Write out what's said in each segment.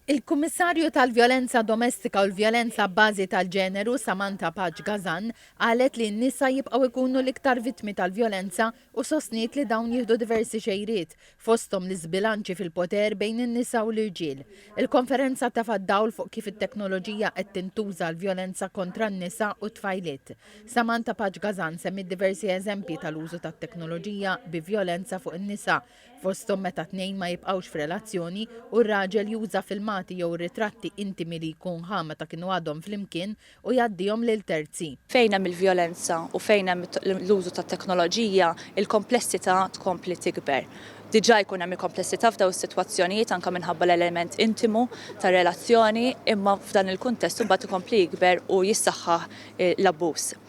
Il-Kummissarju tal-Vjolenza Domestika u l-Vjolenza abbażi tal-Ġeneru, Samantha Paċ Gazan, qalet li n-nisa jibqgħu jkunu l-iktar vittmi tal-vjolenza u sostniet li dawn jieħdu diversi xejriet, fosthom l-iżbilanċi fil-poter bejn in-nisa u l-irġiel. Il-konferenza tefgħet dawl fuq kif it-teknoloġija qed tintuża għall-vjolenza kontra n-nisa u t-tfajliet. Samantha Paċ Gazan semmiet diversi eżempji tal-użu tat-teknoloġija bi vjolenza fuq in-nisa, fosthom meta tnejn ma jibqgħux f'relazzjoni u r-raġel juża filmati jew ritratti intimi li jkun ħa meta kienu għadhom flimkien u jgħaddihom lil terzi. Fejn hemm il-vjolenza u fejn hemm l-użu tat-teknoloġija, il-komplessità tkompli tikber. Diġà jkun hemm il-komplessità f'dawn is-sitwazzjonijiet anke minħabba l-element intimu tar-relazzjoni, imma f'dan il-kuntest imbagħad ikompli jikber u jissaħħaħ l-abbuż.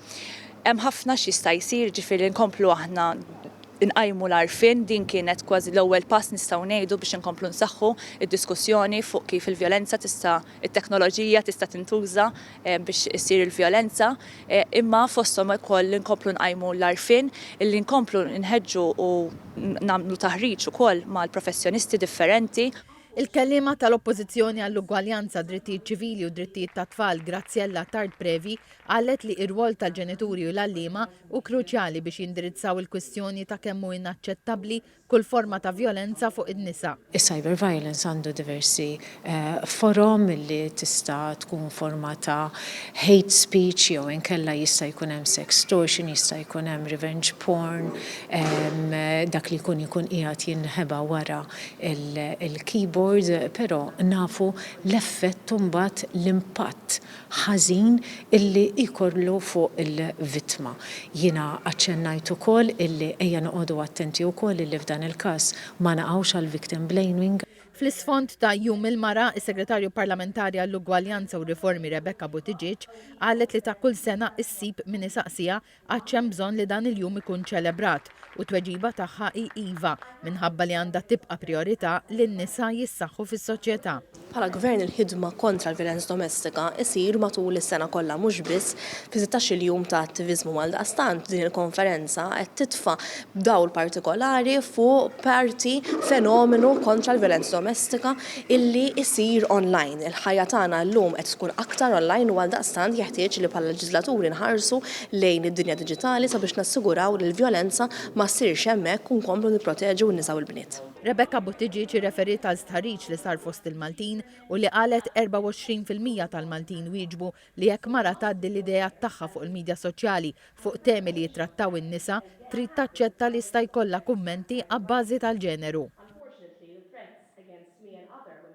Hemm ħafna x'jista' jsir, jiġifieri nkomplu aħna nqajmu l-għarfien, din kienet kważi l-ewwel pass nistgħu ngħidu biex inkomplu nsaħħu d-diskussjoni fuq kif il-vjolenza tista' it-teknoloġija tista' tintuża biex issir il-vjolenza, imma fosthom ukoll li nkomplu nqajmu l-għarfien, li nkomplu nħeġġu u nagħmlu taħriġ ukoll mal-professjonisti differenti. Il-kelliema tal-Oppożizzjoni għall-Ugwaljanza, Drittijiet Ċivili u Drittijiet tat-Tfal, Graziella Tard Previ, Qalet li r-rwol tal-ġenituri u l-għalliema hu kruċjali biex jindirizzaw il-kwistjoni ta' kemm hu inaċċettabbli kull forma ta' vjolenza fuq in-nisa. Is-cyberviolence għandu diversi forom li tista' tkun forma ta' hate speech jew inkella jista' jkun hemm sextortion, jista' jkun hemm revenge porn, dak li jkun ikun qiegħed jinħeba wara l-keyboard, però nafu l-effett imbagħad l-impatt ħażin illi jkollu fuq il-vittma. Jiena aċċennajt ukoll illi ejja noqogħdu attenti wkoll illi f'dan il-każ ma naqgħux għal victim blaming. Fl-isfond ta' Jum il-Mara, is-Segretarju Parlamentari għall-Ugwaljanza u Riformi Rebecca Buttigieg qalet li ta' kull sena issib min isaqsiha Għadx hemm bżonn li dan il-jum ikun ċelebrat, u t-tweġiba tagħha hi iva, minħabba li għandha tibqa' prijorità li n-nisa jissaħħu fis-soċjetà. Bħala Gvern il-ħidma kontra l-vjolenza domestika jsir matul is-sena kollha mhux biss fi sittax-il jum ta' attiviżmu. Għaldaqstant din il-konferenza qed titfa' dawl partikolari fuq parti fenomenu kontra l-vjolenza domestika, illi jsir online. Il-ħajja tagħna llum qed tkun aktar online u għaldaqstant jeħtieġ li bħala leġiżlaturi nħarsu lejn id-dinja diġitali sabiex nassiguraw li l-vjolenza ma ssirx hemmhekk u nkomplu nipproteġu n-nisa u l-bniet. Rebecca Buttigieg irreferiet għal stħarriġ li sar fost il-Maltin u li qalet 24 fil-mija tal-Maltin wieġbu li jekk mara tgħaddi l-ideat tagħha fuq il-midja soċjali fuq temi li jittrattaw in-nisa trid taċċetta li jista' jkollha kummenti abbażi tal-ġeneru.